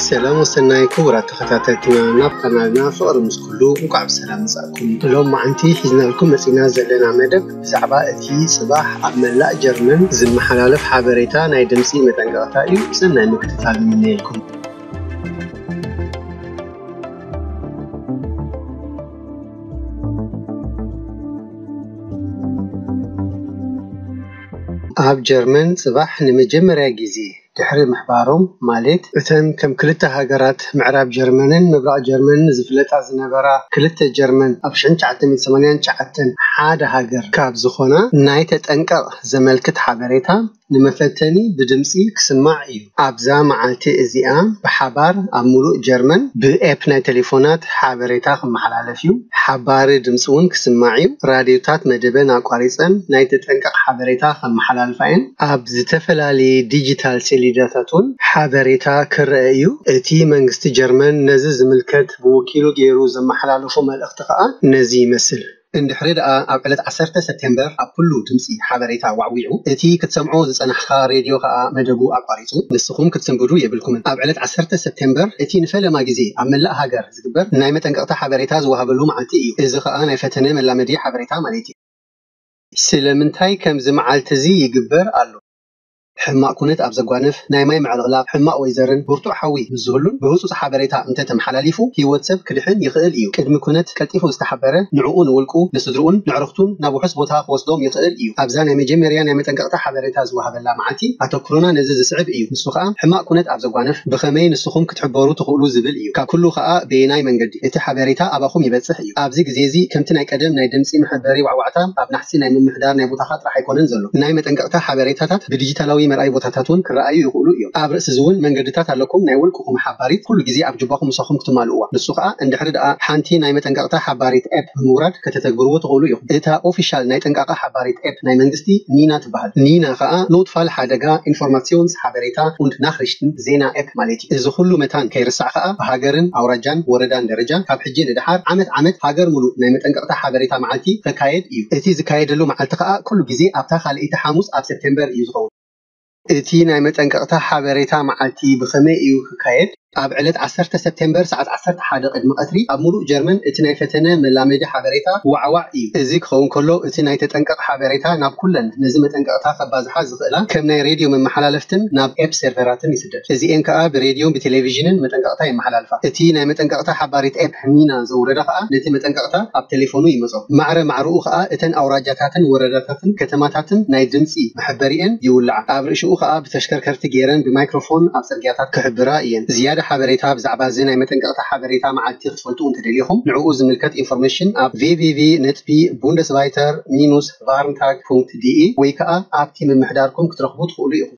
ሰላም ወሰናይ ክቡራት ተኸታተልትና ናብ ካናልና ፍቕሪ ምስ ኩሉ እንኳዕ ብሰላም መጻእኩም ሎም መዓንቲ ሒዝናልኩም መጺና ዘለና መደብ ብዛዕባ እቲ ጽባሕ ኣብ መላእ ጀርመን ዝመሓላለፍ ሓበሬታ ናይ ድምፂ መጠንቀቕታ እዩ ሰናይ ምክትታል ንምነየልኩም ኣብ ጀርመን ጽባሕ ንመጀመርያ ግዜ ድሕሪ ምሕባሮም ማልት እተን ከም ክልተ ሃገራት ምዕራብ ጀርመንን ምብራቕ ጀርመንን ዝፍለጣ ዝነበራ ክልተ ጀርመን ኣብ ሽሕን ትሽዓተ ሚእትን ሰማንያን ትሽዓተን ሓደ ሃገር ካብ ዝኾና ናይ ተጠንቀቕ ዘመልክት ሓበሬታ ንመፈተኒ ብድምጺ ክስማዕ እዩ። ኣብዛ መዓልቲ እዚኣ ብሓባር ኣብ ምሉእ ጀርመን ብኤፕ ናይ ተሌፎናት ሓበሬታ ክመሓላለፍ'ዩ፣ ሓባሪ ድምጺ'ውን ክስማዕ'ዩ፣ ራድዮታት መደበን ኣቋሪጸን ናይ ተጠንቀቕ ሓበሬታ ከመሓላልፋ'የን፣ ኣብ ዝተፈላለየ ዲጂታል ሰሌዳታት'ውን ሓበሬታ ክረኣ'ዩ፣ እቲ መንግስቲ ጀርመን ነዚ ዝምልከት ብወኪሉ ገይሩ ዘመሓላለፎ መልእኽቲ ከኣ ነዚ ይመስል። እንድሕሪ ደኣ ኣብ ዕለት ዓሰርተ ሰፕቴምበር ኣብ ኩሉ ድምጺ ሓበሬታ ዋዕዊዑ፣ እቲ ክትሰምዖ ዝጸናሕኻ ሬድዮ ከኣ መደቡ ኣቋሪጹ፣ ንስኹም ክትስንብዱ የብልኩምን። ኣብ ዕለት ዓሰርተ ሰፕቴምበር እቲ ንፈለማ ግዜ ኣብ መላእ ሃገር ዝግበር ናይ መጠንቀቕታ ሓበሬታ ዝወሃበሉ መዓልቲ እዩ። እዚ ከኣ ናይ ፈተነ መላመዲ ሓበሬታ ማለት'ዩ። ስለምንታይ ከምዚ መዓልቲ'ዚ ይግበር ኣሎ? ሕማቕ ኩነት ኣብ ዘጓንፍ፣ ናይ ማይ ምዕልቕላቕ፣ ሕማቕ ወይ ዘርን ብርቱዕ ሓዊ ምስ ዝህሉን ብህጹጽ ሓበሬታ እንተ ተመሓላሊፉ ህይወት ሰብ ክድሕን ይኽእል እዩ። ቅድሚ ኩነት ቀልጢፉ ዝተሓበረ ንዕኡ ንውልቁ፣ ንስድርኡን ነዕሩኽቱን ናብ ውሑስ ቦታ ክወስዶም ይኽእል እዩ። ኣብዛ ናይ መጀመርያ ናይ መጠንቀቕታ ሓበሬታ ዝወሃበላ መዓልቲ ኣተኩሮና ነዚ ዝስዕብ እዩ፣ ንሱ ኸኣ ሕማቕ ኩነት ኣብ ዘጓንፍ ብኸመይ ንስኹም ክትሕበሩ ትኽእሉ ዝብል እዩ። ካብ ኩሉ ኸኣ በየናይ መንገዲ እቲ ሓበሬታ ኣባኹም ይበጽሕ እዩ። እዩ። ኣብዚ ግዜ እዚ ከምቲ ናይ ቀደም ናይ ድምጺ መሐበሪ ዋዕዋዕታ ኣብ ናሕሲ ናይ ምምሕዳር ናይ ቦታኻ ጥራሕ ኣይኮነን ዘሎ። ናይ መጠንቀቕታ ሓበሬታታት ብዲጂታላዊ መርኣዪ ቦታታት ውን ክረኣዩ ይኽእሉ እዮም። ኣብ ርእሲ እዚ ውን መንገድታት ኣለኩም ናይ ውልቅኹም ሓባሪት ኩሉ ግዜ ኣብ ጁባኹም ምሳኹም ክትማልእዋ። ንሱ ከኣ እንድሕሪ ደኣ ሓንቲ ናይ መጠንቀቕታ ሓባሪት App ብምውራድ ከተተግብርዎ ትኽእሉ ኢኹም። እታ ኦፊሻል ናይ ጠንቃቓ ሓባሪት App ናይ መንግስቲ ኒና ትበሃል። ኒና ከኣ Notfall Hadega Informations Habereta und Nachrichten፣ ዜና፣ App ማለት እዩ። እዚ ኩሉ መታን ከይርሳዕ ከኣ ብሃገርን ኣውራጃን ወረዳን ደረጃ ካብ ሕጂ ንደሓር ዓመት ዓመት ሃገር ሙሉእ ናይ መጠንቀቕታ ሓበሬታ መዓልቲ ከካየድ እዩ። እቲ ዝካየደሉ መዓልቲ ከኣ ኩሉ ግዜ ኣብታ ካልኣይቲ ሓሙስ ኣብ ሰፕቴምበር እዩ ዝኸውን። እቲ ናይ መጠንቀቕታ ሓበሬታ መዓልቲ ብኸመይ እዩ ክካየድ? ኣብ ዕለት ዓሰርተ ሰፕቴምበር ሰዓት ዓሰርተ ሓደ ቅድሚ ቀትሪ ኣብ ሙሉእ ጀርመን እቲ ናይ ፈተነ መላመዲ ሓበሬታ ዋዕዋዕ እዩ። እዚ ክኸውን ከሎ እቲ ናይ ተጠንቀቕ ሓበሬታ ናብ ኩለን ነዚ መጠንቀቕታ ከባዝሓ ዝኽእላ ከም ናይ ሬድዮ መመሓላለፍትን ናብ ኤፕ ሴርቨራትን ይስደድ። እዚኤን ከኣ ብሬድዮን ብቴሌቪዥንን መጠንቀቕታ የመሓላልፋ። እቲ ናይ መጠንቀቕታ ሓባሪት ኤፕ ሚና ዘውረደ ከኣ ነቲ መጠንቀቕታ ኣብ ተሌፎኑ ይመጾ። ማዕረ ማዕረኡ ከኣ እተን ኣውራጃታትን ወረዳታትን ከተማታትን ናይ ድምጺ መሐበሪኤን ይውልዓ። ኣብ ርእሽኡ ከኣ ብተሽከርከርቲ ጌረን ብማይክሮፎን ኣብ ጽርግያታት ክሕብራ እየን። ዝያዳ ሓበሬታ ብዛዕባ እዚ ናይ መጠንቀቕታ ሓበሬታ መዓልቲ ክትፈልጡ እንተደሊኹም ንዕኡ ዝምልከት ኢንፎርሜሽን ኣብ www ነጥቢ Bundesweiter minus Warntag ፑንክት ዲኢ ወይ ከኣ ኣብቲ ምምሕዳርኩም ክትረኽቡ ትኽእሉ ኢኹም።